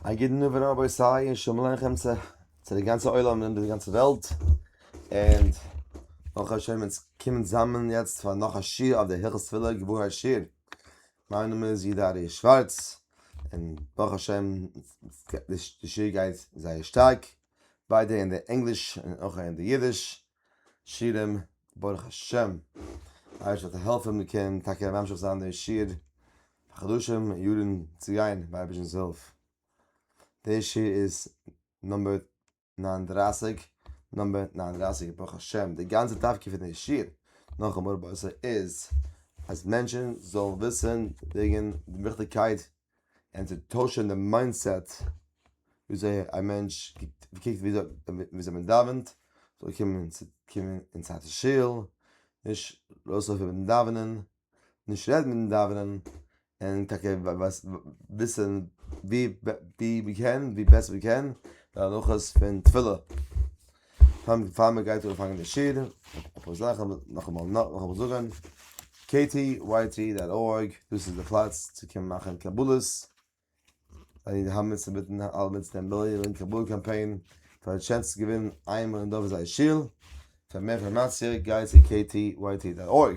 א גוטן נאווער רבי סיי און שומלען לכם צו צו די גאנצע עולם און די גאנצע וועלט און נאך א שמן צו קומען זאמען יעצט פאר נאך א שיר אויף די הלכות תפילה גבור השיר מיין נאמען איז יהודה אריה שווארץ און ברוך השם די שיר גייט זייער שטארק ביידע אין די ענגליש און אויך אין די אידיש שירים, ברוך השם, אייערשט וועט די העלפער מיר קענען טאקע ממשיך זיין די שיר פאר חדשים און יארן צו גיין מיט אייבערשטנ'ס הילף. די שיר איז נומבער נײַן און דרײַסיק, נומבער נײַן און דרײַסיק, ברוך השם, די גאנצע תפקיד פון די שיר, נאכן מראה באיסור, איז אז מענטשן זאלן וויסן וועגן די וויכטיגקייט און צו טוישען די מיינדסעט וויאזוי א מענטש קוקט וויאזוי מען דאווענט, זאל קומען אין צייט צו שול, נישט ארויסלויפן מיטן דאווענען, נישט רעדן מיטן דאווענען, און טאקע וויסען ווי מען קען, ווי בעסער מען קען, די הלכות פון תפילה. פאר פאר מען גייט אנפאנגען די שיעור אפאר זאכן נאכאמאל נאכאמאל זאגען ktyt.org דאס איז די פלאץ צו קומען מאכען קבלות זיי האבן אונז צוביטען אלע מיטלען א מיליאן קבלה קאמפיין פאר די טשענס צו געווינען איינמאל אין דור פון זייער שול פאר מער אינפארמאציע גייט צו ktyt.org.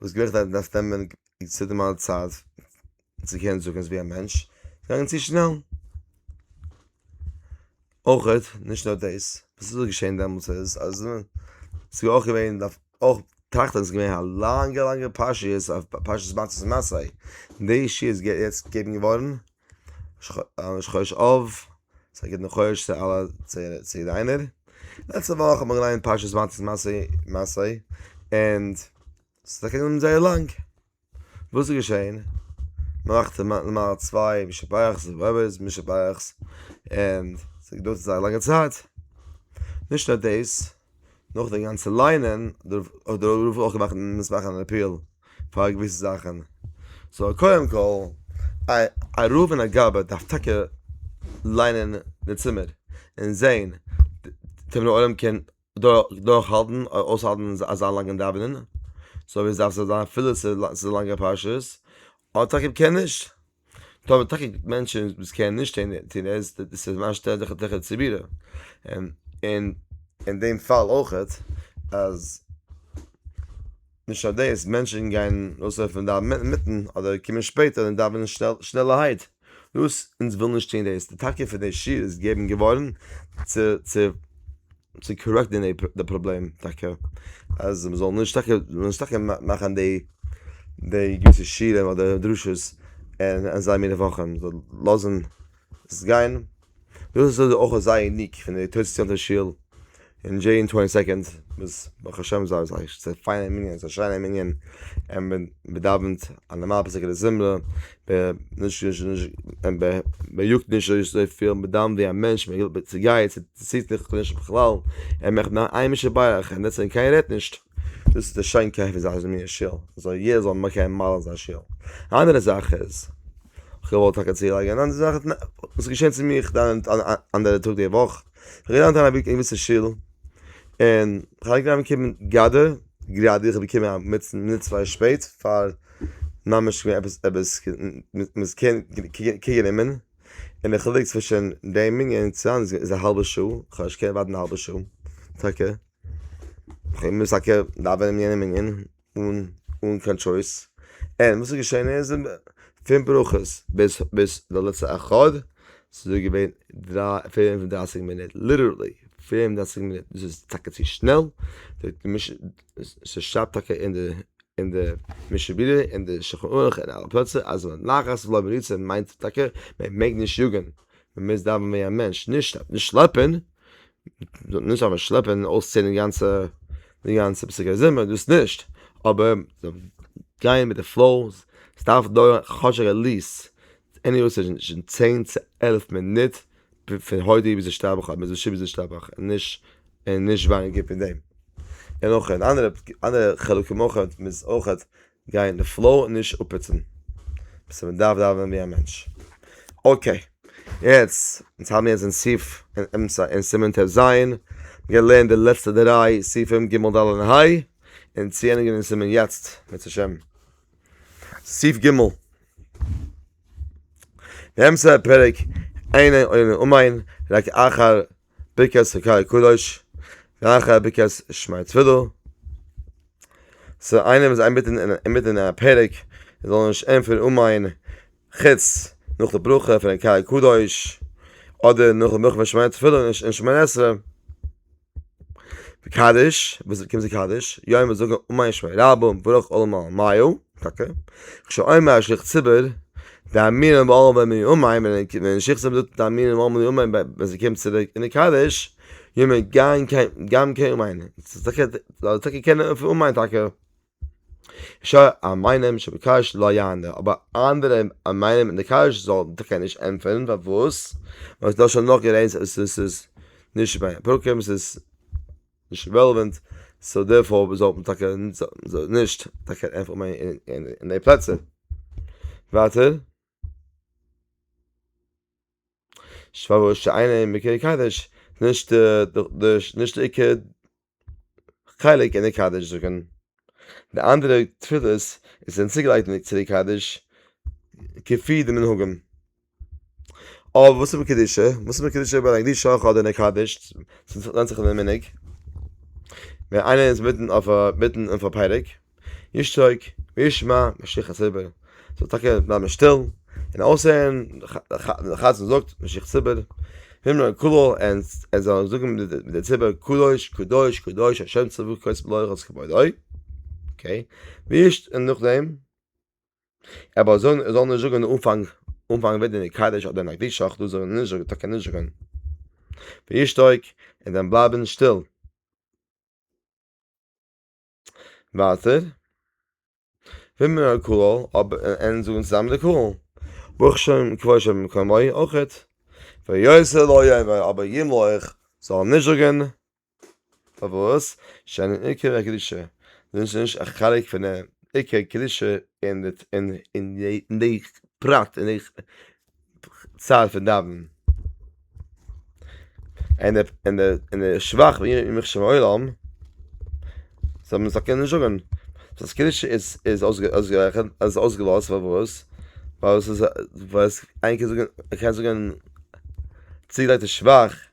וואס געווען איך דארף דארף נעמען צו דעם אלע צייט צו קענען זאגן עס ווי א מענטש געגאנגען צו שנעל אויכעט נישט נאר דאס וואס איז געשען דעמאלטס איז אז ס'איז אויך געווען דארף אויך טראכטען ס'איז געווען א לאנגע לאנגע פרשיות אויף פרשת מצות און מסעי די ישועות געבן געווארן ראש חודש אב, ס'איז א גוטן חודש צו אלע, צו יעדער איינער. לעצטע וואך האט מען געליינט פרשת מצות מסעי, און ס'איז טאקע גענומען זייער לאנג. וואס איז געשען? מ'מאכט נארמאל צוויי מי שברכ'ס און אויב ס'איז מי שברכ'ס, און ס'געדויערט זייער א לאנגע צייט. נישט נאר דאס. נאך די גאנצע ליינען האט דער רב אויך געמאכט מוז מאכן אן אפיעל פאר געוויסע זאכן סאו קודם כל א רב און א גאבד דארף טאקע ליינען די צימער און זעהן צו דער עולם קען דורך האלטן אויסהאלטן אזא לאנגע דאווענען סאו עס דארף זיין אפילו ס'איז א לאנגע פרשה אדער טאקע קען נישט. טאמער טאקע גיבט מענטשען וואס קענען נישט שטיין אין טונעל איז דאס א סימן שטעלט דיך תיכף צו בירור און אין דעם פאל אויכעט אז נישט נאר דאס מענטשען גייען אויסלויפן דארפן אינמיטן אדער קומען שפעטער און דאווענען שנעלערהייט דאס אונז ווילן נישט טון דאס די טאקע פון די שול איז געבן געווארן צו צו. צו קארעקטן די פראבלעם טאקע אז מען זאל נישט טאקע נישט טאקע מאכן די די געוויסע שיעורים אדער דרשות אין אזא מינע וואכן זאל לאזן עס גיין דאס איז אויך אזא ניק פון די תוס' יאנטאס שול אין דזשעי אין טווענטי סעקאנד וואס ברוך השם זיי זיי פיינע מנין ס'איז א שיינע מנין און מען דאווענט א נארמאלע פאסיגע זמרה. ב ה נישט נישט נישט ב ה מען יאגט נישט אזויפיל מיט דאן ווי א מענטש מען וויל צו גייט צו ציט זיך נישט בכלל ער מאכט נאר איין משהו ביי אייך און דעטס און קיינער רעדט נישט דאס איז די שיינקייט פון זיין מין שול אזוי יעדער זאל מקיים מעלה אין זיין שול א אנדערע זאך איז כ'וואלט טאקע צולייגען אנדערע זאכען וואס איז געשען צו מיר אנדערע טאג די וואך. כ'האב געלייענט איין א בוק עימיצן שול, און כ'האלט גראדע געקומען גראדע, גראדע איך בין געקומען א מינוט צוויי צוויי שפעט פאר ממש עפעס עפעס מ'איז קען קוגען אומן, און די חילוק צווישן דעם מנין און צו היינט איז א האלבע שעה, כ'האב נישט געקענט ווארטן א האלבע שעה טאקע, כ'האב געמוזט טאקע דאווענען אין יענע מנין. אן אן קיין טשויס, און וואס איז געשען איז פון ברכות ביז ביז די לעצטע אחד ס'איז דא געווען דרײַ פֿינף און דרײַסיק מינוט ליטערלי פֿינף און דרײַסיק מינוט דאס איז טאקע צו שנעל ס'שרייבט טאקע אין די אין די משנה ברורה אין די שלחן ערוך אין אלע פלעצער אז ווען לחץ ולא מריצה מיינט טאקע מען מעג נישט יאגען מען מוז דאווען ווי א מענטש נישט נישט שלעפען. מ'זאל נישט זיין שלעפער און אויסציען די גאנצע פסוקי זמר דאס נישט, אבער גיין מיט די פלאו, עס דארף דויערן כאטש עטליעסט צען צו עלף מינוט פון הודי ביז השתבח אדער מזושי ביז השתבח, און נישט ווייניגער פון דעם, און אויך אנדערע חלקים אויך איז אויך גיין אין די פלאו און נישט אפהיצן סאו מען דארף דאווענען ווי א מענטש. אקעי יעצט אונז האבן יעצט אין סעיף אין אמצע אין סימן ט ז געלערנט די לעצטע דריי סעיפים ג' ד' און ה' און צו ענדיגן אין סימן יצט בעז ה. סעיף ג' באמצע הפרק עיני עיני אמיין רק אחר ברכת הקאי קדוש, רייכע ברכת שמע תפילה. ס'איינער וואס איז אינמיטן אינמיטן א פרק, ער זאל נישט ענטפערן אמיין, חוץ נאך די ברכה פון קאי קדוש, אדער נאך די ברכה פון שמע תפילה און ש און שמונה עשרה. קדיש, וואס קומט צו קדיש? יום וואס זאגן אמיין שמע רבא, ברוך כל מעלמיו. אקעי, כשאומר א שליח ציבור דאמינא באו בימי יומיים, ווען א שליח ציבור זאגט דאמינא באו בימי יומיים ווען זיי קומען צוריק אין די קדיש, יומא גאם קען יומיים, זאל טאקע קענען אויף יומיים טאקע, שא א מיינעם שבקש לא יענה, אבער אנדערע א מיינעם אין די קדיש זאל טאקע נישט ענטפערן, פארוואס? ווייל ס'דא שוין נאך גערעדט אז עס איז נישט ביי פרקים עס איז. נישט רעלעווענט, סאו דערפאר זאל מען טאקע נישט טאקע ענטפערן אין די פלעצער. ווייטער. שפארוואס שיינע אין מקוה קדש נישט נישט די עיקר חלק אין די קדש זאגן די אנדערע תפילות איז צוגעלייגט אין די קדש כפי די מנהגים. אויב וואס איז מיט קדושה? וואס איז מיט קדושה אויב ער האט א קדושה אויך אדער נעקדשט? ס'איז ווענדט זיך אין די מנהג. ווען איינער איז מיטן אויף א מיטן אויף א פרק, ישתוק וישמע ממשיך הציבור. זאל טאקע בלייבן שטיל און אויסהערן ווען די חזן זאגט ממשיך הציבור. הימלא כולא און ער זאל זאגן מיט די ציבור קדוש קדוש קדוש השם צבקות מלכות כבודו. אקעי. ווי נישט און נאכדעם. אבער זאל זאל נישט זאגן אין אנפאנג אנפאנג וועט די קדש אדער נקדיש אויך דאס זאגן נישט זאגן טאקע נישט זאגן וישתוק און דאן בלייבן שטיל ווייטער וועמען א קול אבער אין זאגן צוזאמען די קול ברוך שם כבוד שם קמוי אויך ויוסל אויב אבער ימלוך זאל נישט זאגן פארוואס? שאינן עיקר הקדושה, דאס איז נישט א חלק פון די עיקר קדושה אין די פרט אין די צד פון דאווענען, און די שבח ואם יחשב העולם זאל מען זאל קענען זאגען אז קדושה איז אויסגערעכענט איז אויסגעלאזט פארוואס? ווייל עס איז ווייל עס איינער קען זאגען ער קען זאגען צוגעלייגטע שבח.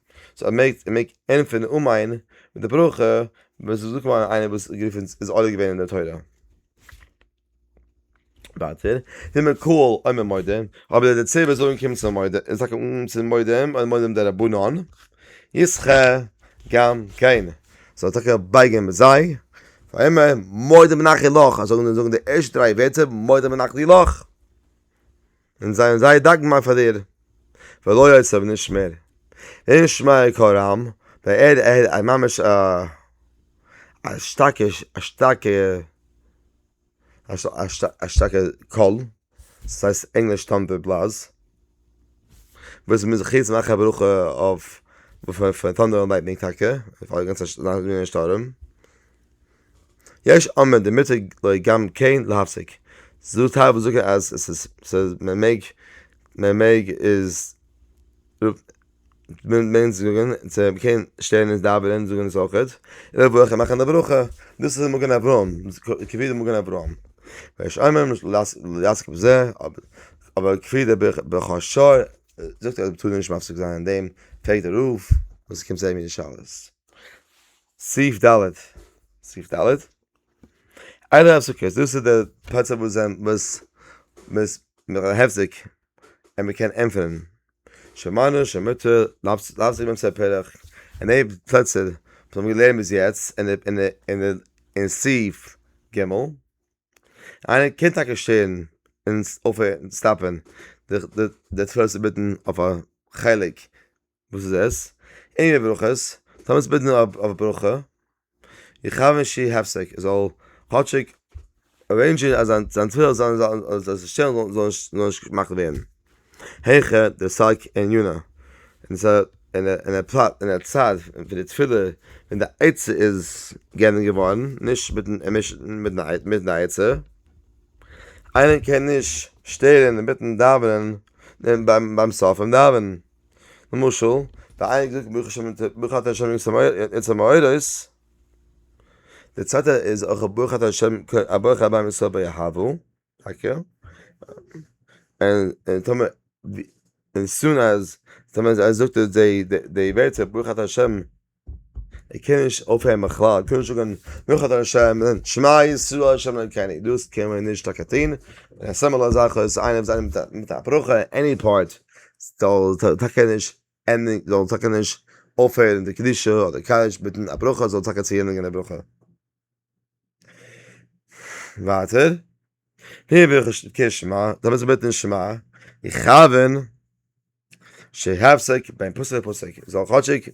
סאו ער מעג ער מעג ענטפערן אן מיין מיט די ברכה ווען ס'איז דא כמובן איינער וואס גערופן איז עולה געווען אין די תורה. ווייטער, ווי מען קאל עומר מועדים, אבער די דערציילער וועט זאגן קום צום מועד איז טאקע אן צום מועדים אדער מועדים דרבנן, יש כ גם כן, זאל טאקע בייגען מיט זיי, ויאמר מועדים נחי לך, זאגן זאגן די ערשטע דריי ווערטער מועדים נחי לך. און זיי האבן זייער דאנקבאר פאר דיר, ולא עוד ס'האב נישט מער, אין שמעיה קול רם, ביי ער ער א ממש א א שטארקע א שטארקע א שטארקע קול, ס'הייסט ענגליש טאנדער בלאז, וואס מ'איז זיך יעצט מאכן א ברכה אויף פון טאנדער און לייטנינג טאקע, פאר די גאנצע שטורם. יש אומר די מותר לוי גם כן להפסיק, ס'איז דא טייל וואס זאגן אז עס איז מען מעג מען מעג איז מען מעג זאגן צו קען שטערן אונז דאווענען זאגן אונז אויכעט און אויך מאכן די ברכה, דאס איז מגן אברהם כפי די מגן אברהם, ויש אומר נישט לעסוק בזה אבער כפי די ברכו של זאגט ער אז מ'טאר נישט מפסיק זיין אין דעם, פרעגט די רב וואס קומט זיי מיט די שאלות. סעיף ד' סעיף ד' איינער האט סוכות דאס איז דער פלאץ וואס זיין וואס מ'איז נאך העפטיג און מ'קען ענטפערן שמענו שמותר לאזט זיך ווען ס'איז א פרח און די פלעצער וואס מ'האט געלערנט ביז יעצט און און און און און סעיף ג' איינער קען טאקע שטערן און אויפהערן סטאפען די תפילות אינמיטן אויף א חלק וואס איז עס? אין די ברכות, טאר מען עס בעטן אויף א ברכה, יכוון שיהיה הפסק, ער זאל כאטשיג ארעינדזשען אז זיין תפילה זאל זיך שטעלן זאל נישט געמאכט ווערן, העכער די סייג אין יונה, און די פלאץ און די צד פון די תפילה און די עצה איז געענדיגט געווארן, נישט מיטן עצה, איינער קען נישט שטערן אינמיטן דאווענען ביים סוף פון דאווענען. למשל, די איינע האט געזאגט ברוך השם אונז האט ברוך אתה ה' אונז האט א מאורות, די צווייטע איז אויך ברוך אתה ה' א ברוך הבא עם ישראל ביהבו, טאקע, און טאמער און ס'איז אן אז טאמער זיי זאגט די ווערטער ברוך אתה ה'. ער קען נישט אויפהערן בכלל, ער קען נישט זאגן ברוך אתה השם, שמע ישראל השם אלקינו, דאס קען מען נישט טאקע טון, און א סמל אזעלכע איז איינער וואס זיין מיט א ברכה עני פארט, זאל טאקע נישט ענדיגן, זאל טאקע נישט אויפהערן די קדושה אדער קדיש מיטן א ברכה, זאל טאקע צו ענדיגן די ברכה. ווייטער, ה' ברוך הוא שתקע שמע, דו ביסט געבעטן אין שמע, איך כאווען שיהפסיק בין פסוק לפסוק, זאל כאטשיג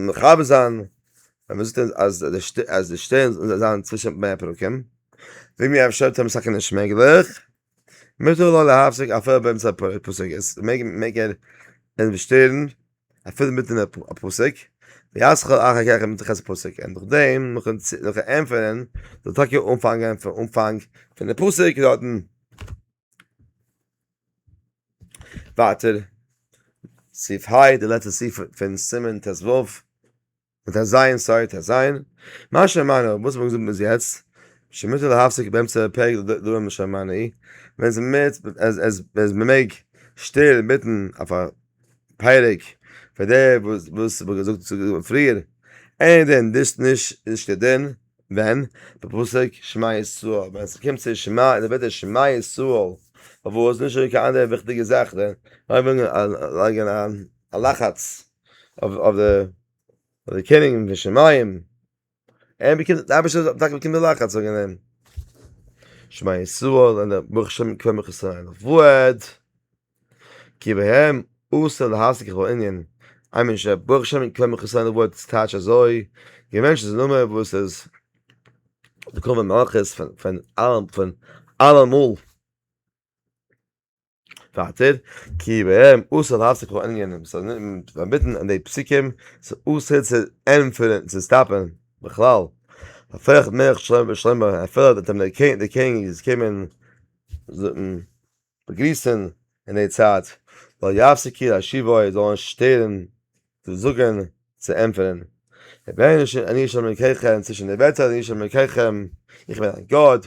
מכבה זיין ווען מען זאגט אז די שטערן זאל זיין צווישן בין הפרקים, זאג מיר אפשר טוען מיר סך הכל נישט מעגליך. מותר לו להפסיק אפילו באמצע פסוק, עס מעג ער אים שטערן אפילו מיטן א פסוק, וישכר אחר כך עם מתחילת הפסוק, און נאכדעם נאכן ענטפערן זאל ער טאקע אנפאנגען פון אנפאנג פון די פסוק דארטן ווייטער, סעיף ה, די לעצטע סעיף פון סימן ט ו. מיט א זיין סארי טו זיין, מה שמענו וואס האט מען געזאגט ביז יעצט? שמותר להפסיק באמצע פרק די דבר מה שמענו אי ווען עס מיט עס מען מעג שטיל מיטן אויף א פרק פאר די וואס וואס האבן געזאגט צו געזאגט פריער אין דעם דאס נישט איז נישט כדין ווען די פסוק שמע ישראל ווען עס קומט צו שמע די ווערטער שמע ישראל פארוואס נישט אזוי קיין אנדערע וויכטיגע זאכן אויב ווילן לייגן א לחץ. אויף די קעניגן פון שמים, ער באקומט, די אייבערשטער האט טאקע באקומען די לחץ וועגן אים, שמע ישראל און דער ברוך השם קווער מיך עס אריין, ועוד, כי בהם אסור להסיק כל ענין, איי מין ש, ברוך השם קווער מיך עס אריין ועוד איז טייטש אזוי, די מענטש איז א נאמען וואס איז די כובע מלכות פון אלעמאל. ווייטער, כי בהם אסור להפסיק כל ענינים, ס'איז פארביטן אין די פסוקים, ס'איז אסור צו ענטפערן, צו סטאפן בכלל, הופך מלך שלמה בן שלמה, אפילו וועט אים דער קעניג זיך קומען באגריסן אין די צייט, לא יפסיקי להשיבו, ער זאל נישט שטערן צו זאגן, צו ענטפערן, הנה אני ה' אלוקיכם, צווישן די ווערטער, אני ה' אלוקיכם, איך בין דיין גאט.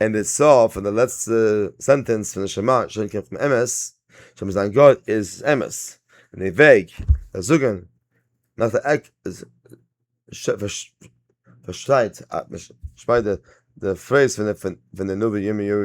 אין די סוף פון די לעצטע סענטענס פון נשמה שוין קומט פון אמת, שוין מיט זיין גאט איז עס אמת, און די וועג ווען זאגן נאך די עק איז פארשטייט די פרעיז פון די נביא ירמיהו.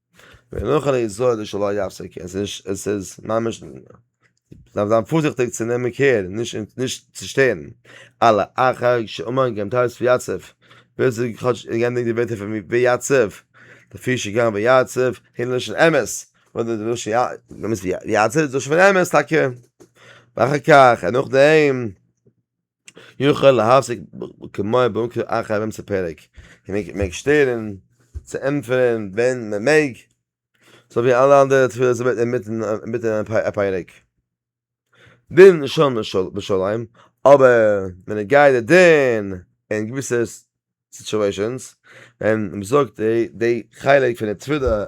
ונוכל לישראל זה שלא יפסק, עס איז ממש, מ'דארף זיין פארזיכטיג צו נעמען קעיר נישט צו שטערן, אלא אחר שאמר גם תוס' ויצב, ווער ס'איז כאטש גענדיגט די ווערטער פון ויצב, לפי שגם ויצב היא לשון אמת, ויצב איז לשון אמת טאקע, ואחר כך און נאכדעם. יוכל להפסיק כמוה במקרה אחר באמצע פרק. און מען מעג שטערן צו ענטפערן ווען מען מעג. סאו ווי אלע אנדערע תפילות אינמיטן אינמיטן א פרק. דין ראשון בשוליים, אבער ווען ער גייט די דין אין געוויסע סיטואשענס ווען מען זאגט די די חלק פון די תפילה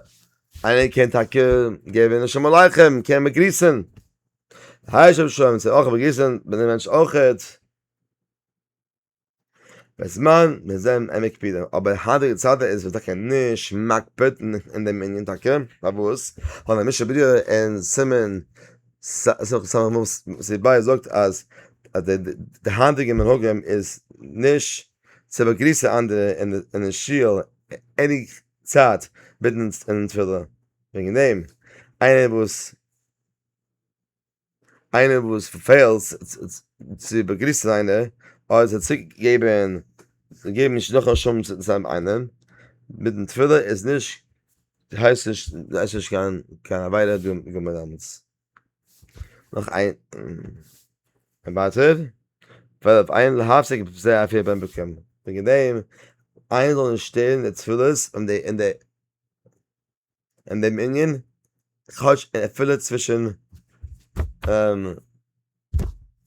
איינער קען טאקע געבן שלום עליכם קען באגריסן. היי שב שוין צו אויך באגריסן מיט דעם מענטש אויכעט. בזמן מיר זענען אים מקפידים, אבער היינטיגע צייטן איז מען טאקע נישט מקפיד אין דעם ענין טאקע, פארוואס? ווייל דער משנה ברורה אין סימן ס ס ס ס ב זאגט אז אז די די היינטיגע מנהגים איז נישט צו באגריסן אנדערע אין די שול עני צייט מיטן אין תפילה, וועגן דעם איינער וואס איינער וואס פעלט צו באגריסן איינער, אדער זאל צוריק געבן, זאל געבן נישט נאך א שלום צו סתם איינעם, מיטן תפילה איז נישט, הייסט נישט, הייסט נישט קיין קיין עבירה דא גומר דאנעט. נאך איין, און ווייטער, פארוואס איינער זאל האפסיק זיי אפיר ביים באקומען, וועגן דעם איינער זאל נישט שטערן די תפילות און די און די. אין דעם ענין כאטש אפילו צווישן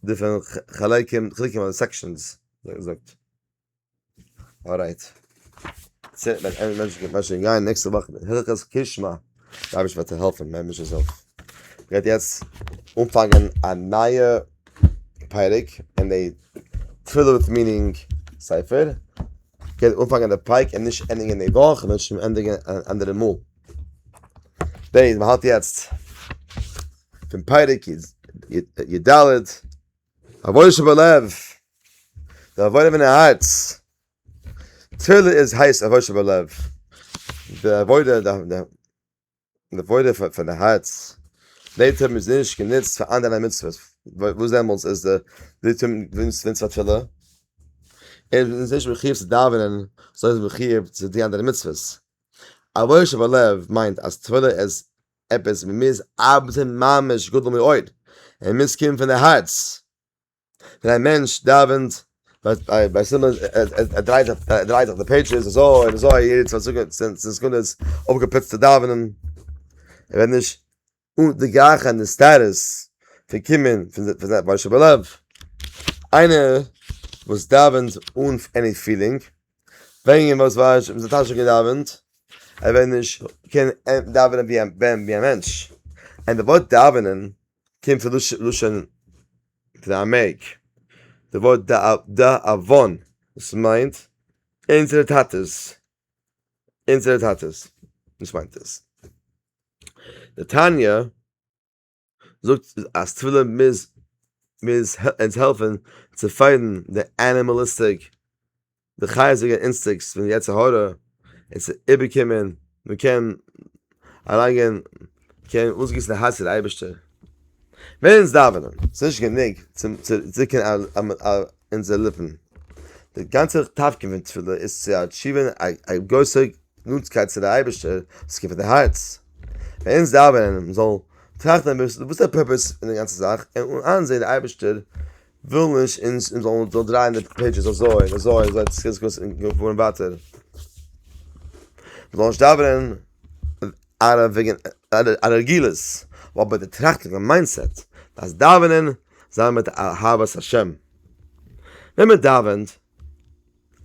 די פון חלקים חלקים אדער סעקשאנס ווי געזאגט ארייט נעקסטע וואך הלכות קושמע די אייבערשטער וועט דיר העלפן מען מוז עס אויף גייט יעצט אנפאנגען א נייע פרק אין די תפילה מיטינג ספר. כ'קען אנפאנגען די פרק און נישט ענדיגען די וואך, כ'וועל שוין ענדיגען אן אנדערע מאל. בעז מ האלט יעצט פון פרק י ד, עבודה שבלב, די עבודה פון די הארץ, תפילה איז הייסט עבודה שבלב, די עבודה די. די וואויל איז פאר די הארץ, די טומאה איז נישט גענוצט פאר אנדערע מצוות, וואס דעמאלטס איז די די טומאה גענוצט געווארן צו א תפילה? ער איז נישט מחיוב צו דאווענען, סוי איז מחיוב צו די אנדערע מצוות. א וואויל שבלב מיינט אז תפילה איז עפעס וואס מ'מוז ארבעטן ממש גדול מאוד, ער מוז קומען פון די הארץ. ווען א מענטש דאווענט ביי סימן ער דרייט זיך די פעידזשעס אזוי און אזוי יעדע צוואנציג סעקונדעס אפגעפוצט צו דאווענען ער וועט נישט די גלייכע נסתרות פון קומען פון זיין בושה שבלב איינער וואס דאווענט אן עני פילינג ווען איר וואס ווייסט שוין זיי טאשע געדאווענט ער וועט נישט קענען דאווענען ווי א מענטש ענד די ווארט דאווענען. קומט פון דאס לשון פון א מעג, די ווארט דאבון וואס מיינט אונזערע טאטעס, אונזערע טאטעס, דאס מיינט עס. די תניא זאגט אז תפילה מוז אונז העלפן צו פייטן די ענימאליסטיק די חיות זענען אינסטיקס פון יצר הרע, און ס'איז איבערקומען, מען קען אריינגיין, מען קען אויסגיסן די הארץ צו די אייבערשטער. ווען אונז דאווענען, ס'איז נישט גענוג צו דרוקן אונזערע ליפן, די גאנצע תפקיד פון תפילה איז צו אטשיווען א גרויסע נאנטקייט צו די אייבערשטער, וואס קומט פון די הארץ. ווען אונז דאווענען, מען זאל טראכטן אביסל וואס איז דער פורפעס פון די גאנצע זאך, און איינזען די אייבערשטער וויל נישט אונז זאלן דרייען די פעידזשעס אזוי און אזוי און אזוי ס'קען זיך געבן פארן ווייטער. מ'זאל נישט דאווענען אארא וועגן א רגילות נאר מיט די טראכטן און מיינדסעט אז דאווענען זיי מיט אהבת השם. ווען מ'דאווענט.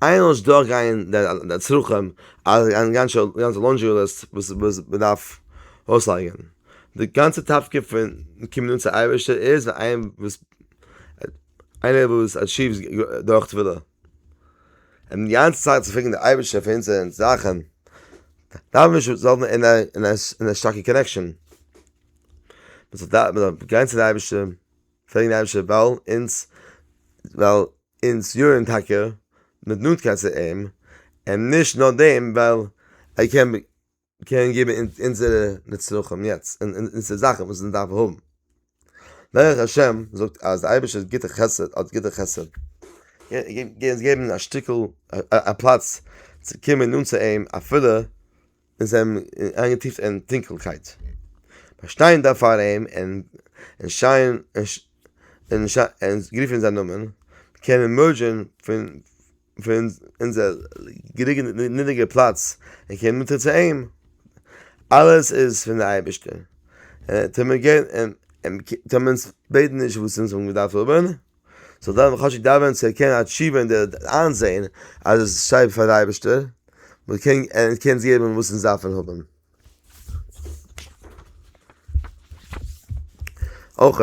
איינמאל דורך גייען די צרכים אז א גאנצע לאנדרי ליסט וואס מ'דארף אויסלייגען, די גאנצע תפקיד פון קומען אן צו אייבערשטער איז ווען איינער וואס איינער וואס עטשיווס דורך תפילה און די גאנצע צייט צו פרעגן די אייבערשטער פאר אונזערע זאכען דארף מען שוין זאגען אין א שטארקע קאנעקשען מען זאל גיין צו די אייבערשטער פרעגן די אייבערשטער ווייל אונז ווייל. אונז יארן טאקע מיט נאנטקייט צו אים, און נישט נאר דעם ווייל ער קען קען געבן אונזערע נצרכים יעצט און אונזערע זאכן וואס אונז דארפן האבן. דרך השם זאגט אז די אייבערשטער איז גוטער חסד האט גוטער חסד געבן א שטיקל א פלאץ צו קומען נאנט צו אים אפילו, און זיי האבן אים איינגעטיפט אין טונקלקייט, באשטיין דארף פאר אים און און שייען און און גערופן זיין נאמען, קען מען מערדזשען פון פון אונזער גערוגע נידעריגע פלאץ און קומען אונטער צו אים, אלעס איז פון די אייבערשטער, און טאר מען געבן און טאר מען אונז בעטן נישט וואס אונז האבן געדארפט האבן. זאל דאן וואס חשק דאווענען צו ערקענען א תשובה און דער איינזעהן אז עס איז שייך פאר די אייבערשטער, מען קען ענק קען זיך געבן וואס אונז דארפן האבן. אויך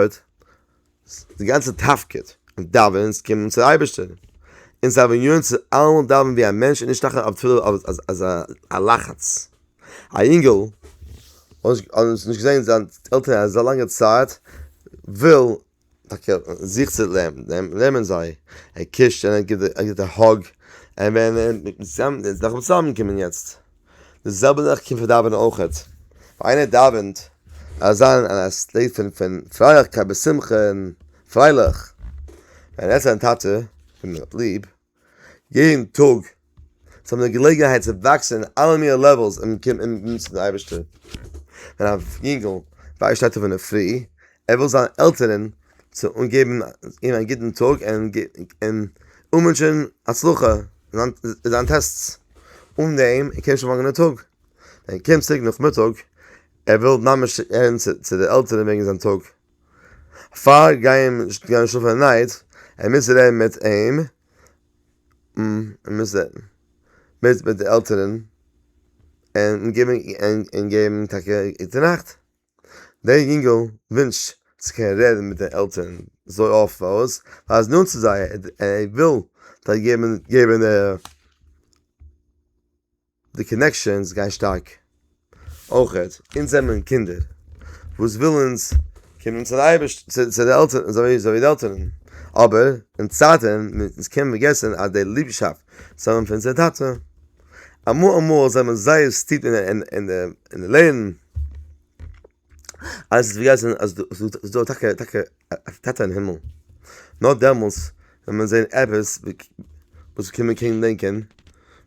די גאנצע תפקיד און דאווענען איז קומען צו די אייבערשטער, אונז דארף ווען יועץ צו אלעמאל דאווענען ווי א מענטש און נישט טאקע אויף תפילה אויף אז א לחץ, א יונגעל האט נישט געזעהן זיין עלטערן אזא לאנגע צייט וויל. טאקע זיך צו לערנען זיי, ער קושט און ער גיט א האג, און ווען נאכן צוזאם קומען יעצט, די זעלבע זאך קומט פאר דאווענען אויכעט, ווען איינער דאווענט זאל ער זיין אין א סטעיט פון פון פרייליכקייט בשמחה און פרייליך, ווען ער זעט זיין טאטע וועם ער האט ליב. יעדן טאג זאל מען האבן געלעגנהייט צו וואקסן אין אלע מינע לעוועלס און קומען אין דינסט פון די אייבערשטער, ווען א יונגל ווערט שטייט אויף אינדערפרי ער וויל זיין עלטערן צו און געבן אים א גוטן טאג און און אנווינטשען הצלחה אין זיין טעסטס, אן דעם קען נישט אנפאנגען די טאג, ווען ער קומט צוריק נאכמיטאג ער וויל ממש רעדן צו די עלטערן וועגן זיין טאג. פאר גייען גייען שלאפן אין נייט ער מוז רעדן מיט אים ער מוז רעדן מיט מיט די עלטערן און געבן און געבן טאקע גוטע נאכט דער יונגעל ווינטשט צו קענען רעדן מיט די עלטערן אזוי אפט פארוואס ווייל ער איז נאנט צו זיי ער וויל זיי געבן געבן די. די קאנעקשאנס גייען שטארק. אויך אונז זעמער קינדער וואס וויל אונז קומען צו די עלטערן אזוי ווי די עלטערן, אבער אין צייטען מיט אונז קען פארגעסען אז די ליבשאפט וואס האבען פאר אונזער טאטע. אמאל אמאל זעמער זייער סטיפ אין די לערנען. אז ס'וועט געהייסן אז אז ס'איז דא טאקע טאקע א טאטע אין הימל, נאר דעמאלס וועט מען זען עפעס וואס קען מען קען דענקען,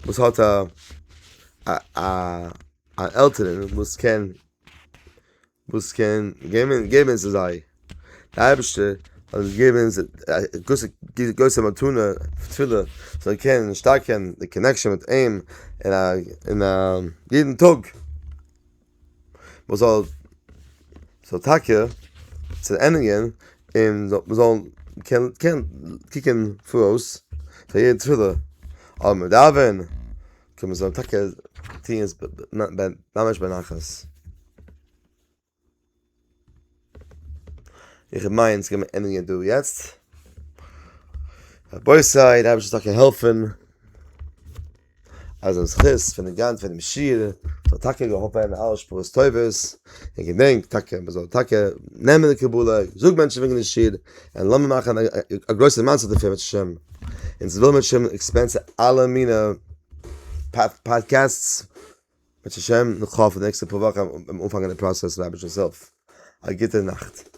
וואס האט א א א א עלטערן וואס קען וואס קען געבן געבן צו זיי, די אייבערשטער האט אונז געגעבן אונז א גרויסע גרויסע מתנה תפילה זאל קענען שטארקן די קאנעקשאן מיט אים אין א אין א יעדן טאג. מ'זאל זאל טאקע צענדיגן און מ'זאל קענען קוקן פאראויס פאר יעדע תפילה אז מ'דאווען זאל מען טאקע טון עס ממש בנחת. איך מיין ס'קען מען ענדיגן דא יעצט. רבותי, די אייבערשטער זאל טאקע העלפן אז דעם זכות פון די גאנץ פון דעם שול זאל טאקע האבן אלע שפרות טובות, און געדענקט טאקע מען זאל טאקע נעמען די קבלה, זאג מענטשן וועגן די שול, און לאמיר מאכן א גרויסע מצה דערפון בעזהשי ת, אונז ווילן בעזהשי ת עקספענד צו אלע מיני פאדקעסטס. בעז השם נאך האפן די נעקסטע פאר וואכן אנפאנגען די פראסעס רבינ'ס הילף א גוטע נאכט.